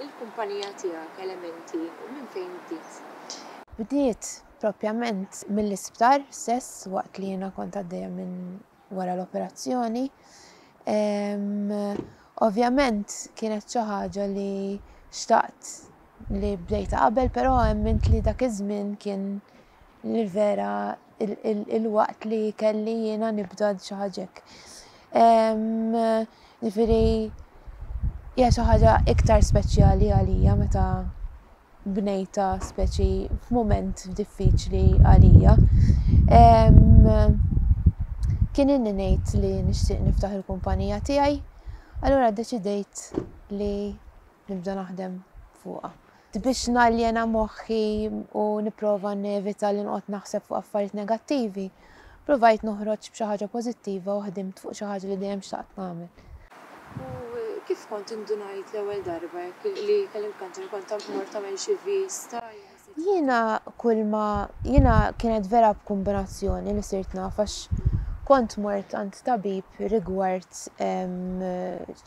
Il-kumpanija tiegħek elementi u minn fejn bdiet? Bdiet propjament mill-isptar stess waqt li jiena kont għaddejja minn wara l-operazzjoni. Ovvjament kienet xi ħaġa li xtaqt li bdejta qabel, però emmint li dak iż-żmien kien Nirvera il-waqt li kelli jiena nibda xi ħaġa hekk. Ġifieri hija xi ħaġa iktar speċjali għalija meta bnejta speċi f'mument diffiċli għalija. Kien inni ngħid li nixtieq niftaħ il-kumpanija tiegħi, allura ddeċidejt li nibda naħdem fuqha. Biex naljena moħħi u nipprova nevita li noqgħod naħseb fuq affarijiet negattivi, ppruvajt noħroġ b'xi ħaġa pożittiva u ħdimt fuq xi ħaġa li dejjem xtaqt nagħmel. U kif kont indunajt l-ewwel darba hekk li kellimt kanċer kont tant mort tagħmel xi vista jew ct. Jiena kulma, jiena kienet vera b'kumbinazzjoni li sirt naf għax kont mort għand tabib rigward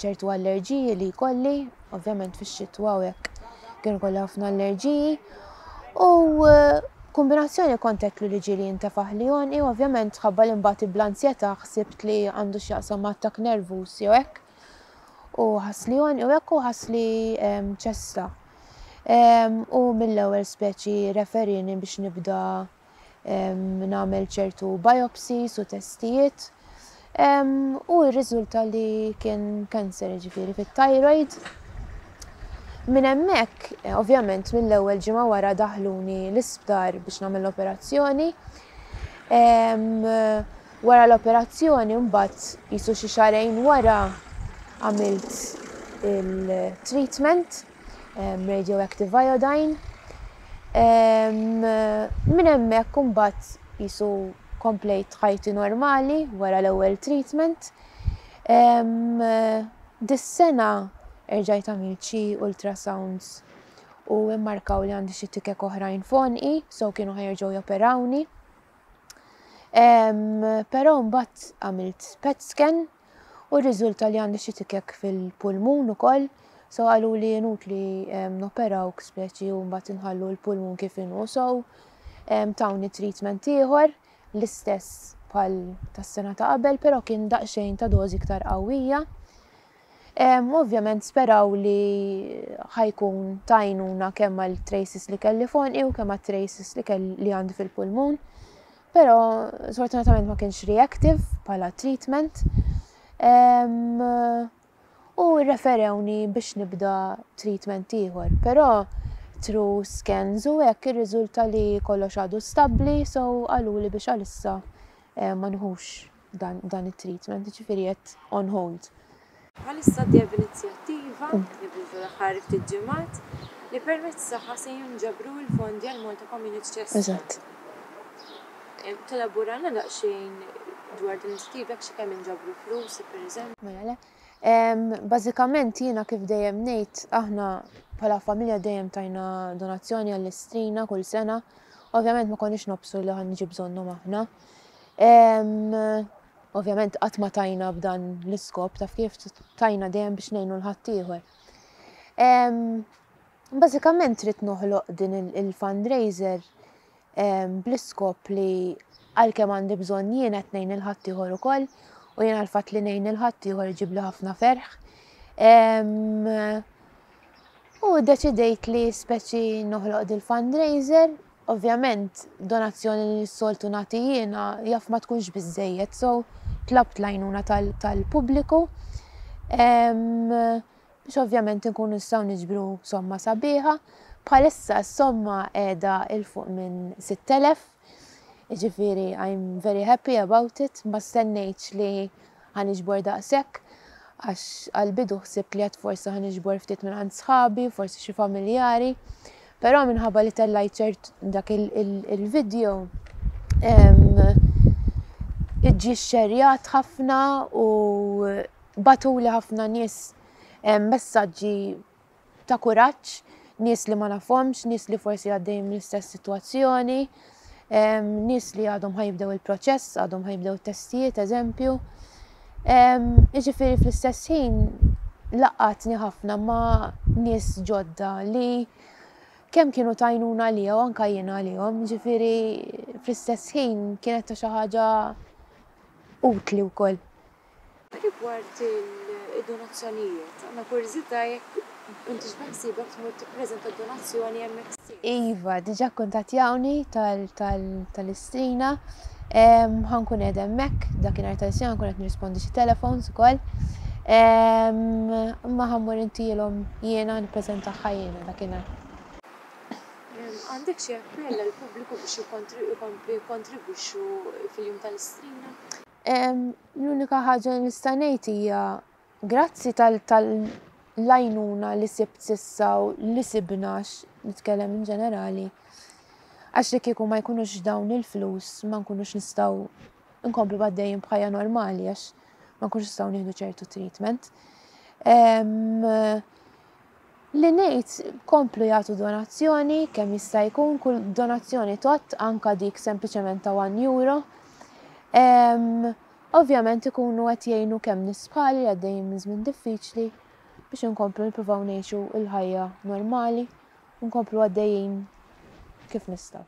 ċertu allerġiji li jkolli Ovvjament fix-xitwa u hekk kien kolli ħafna allerġiji u eh, kombinazzjoni kontetlu li ġieli jintefaħ li jonqi, ovvjament ħabba li mbagħad bl-anzjetà ħsibt li għandu x'jaqsam ma' attakk nervuż jew hekk. U ħass li jonqi u hekk u ħass li ehm, ċesta. Ehm, u mill-ewwel speċi referini biex nibda nagħmel ċertu biopsies u testijiet u rriżulta li kien kanser ġifieri fit-thyroid. Minn hemmhekk, ovvjament mill-ewwel ġimgħa wara daħluni l-isptar biex nagħmel l-operazzjoni. Wara l-operazzjoni mbagħad jisu xi xarejn wara għamilt il-treatment. radioactive iodine. Minn hemmhekk imbagħad jisu komplejt ħajti normali wara l-ewwel treatment. Dis-sena erġajt għamilt xi ultrasounds u immarkaw li għandi xi tikek oħrajn f'għonqi, so kienu ħajerġgħu joperawni. Però mbagħad għamilt PET scan u rriżulta li għandi xi tikek fil-pulmun ukoll, so qalu li jenut li noperawk speċi u mbagħad inħallu l-pulmun kif inhu so tawni treatment ieħor l-istess bħal tas-sena ta' qabel, però kien daqsxejn ta' dożi iktar qawwija. Ovvjament speraw li ħajkun tajnuna kemm għal traces li kelli fonqi u kemm għal traces li kelli li għandi fil-pulmun. Però sfortunatament ma kienx reactive bħala treatment u referewni biex nibda treatment ieħor. Però tru scans u hekk irriżulta li kollox għadu stabbli so qaluli biex għalissa eh, ma nħux dan, dan it-treatment, ġifiri qed on hold. Bħalissa dejjem inizjattiva, nibdu fl-aħħar ftit ġimgħat, li permezz tagħha se jinġabru l-fondi għal Malta Community Chest. Eżatt. Telaborana daqsxejn dwar din l-inizjattiva xi kemm inġabru flus, pereżempju? Mela le. Bażikament jiena kif dejjem ngħid aħna bħala familja dejjem tajna donazzjoni għall-istrina kull sena. Ovvjament ma konniex nobsu li ħan niġi bżonnhom aħna. Ovvjament qatt ma tajna b'dan l-iskop taf kif tajna dejjem biex ngħinu l-ħaddieħor. Bażikament trid noħloq din il-fundraiser bl-iskop li għalkemm għandi bżonn jien qed ngħin il-ħaddieħor ukoll u jien għalfat li ngħin il-ħaddieħor iġib li ħafna ferħ. U deċidejt li speċi noħloq dil-fundraiser Ovvjament donazzjoni li s-soltu nagħti jiena jaf ma tkunx biżżejjed so tlabt l-għajnuna tal-pubbliku biex ovvjament inkunu nistgħu niġbru somma sabiħa. Bħalissa s-somma qiegħda 'il fuq minn 6,000, jiġifieri I'm very happy about it, ma stennejtx li Ħa niġbor daqshekk għax għall-bidu ħsibt li għad forsi ħa niġbor ftit minn għand sħabi, forsi xi familjari, però minħabba li tellajt ċert dak il-video ġie xxerjat ħafna u batuli ħafna nies messaġġi ta' kuraġġ, nies li ma nafhomx, nies li forsi għaddejjin mill-istess sitwazzjoni, nies li għadhom ħajibdew il-proċess, għadhom ħajibdew it-testijiet, eżempju. Jiġifieri fl-istess ħin laqatni ħafna ma' nies ġodda li kemm kienu tajnuna li jew anka jien għalihom, ġifieri fl-istess ħin kienet ta' xi ħaġa utli wkoll. Rigward id-donazzjonijiet, għandna kurjżità jekk intix beħsiebek tmur tippreżenta d-donazzjoni MFC. Iva, diġà kkuntattjawni tal-Istrina. Ħa nkun qiegħda hemmhekk dakinhar tal-Istrina nkun qed nirrispondi xi telefons ukoll. Imma ħa mmur intilhom jiena nippreżentagħha jiena dakinhar. Għandek xi appell għall-pubbliku biex jkomplu jikkontribwixxu fil-jum tal-Istrina? L-unika ħaġa li nista' ngħid hija grazzi tal-għajnuna li sibt sissa u li sibna nitkellem in ġenerali. Għax li kieku ma jkunux dawn il-flus ma nkunux nistgħu nkomplu għaddejjin bħajja normali għax ma nkunux nistgħu nieħdu ċertu treatment. Li ngħid, komplu jagħtu donazzjoni, kemm jista' jkun, kull donazzjoni tgħodd, anke dik sempliċement ta' one euro. Ovvjament ikunu qed jgħinu kemm nies bħali li għaddejjin minn żmien diffiċli biex inkomplu nippruvaw ngħixu l-ħajja normali, nkomplu għaddejjin kif nistgħu.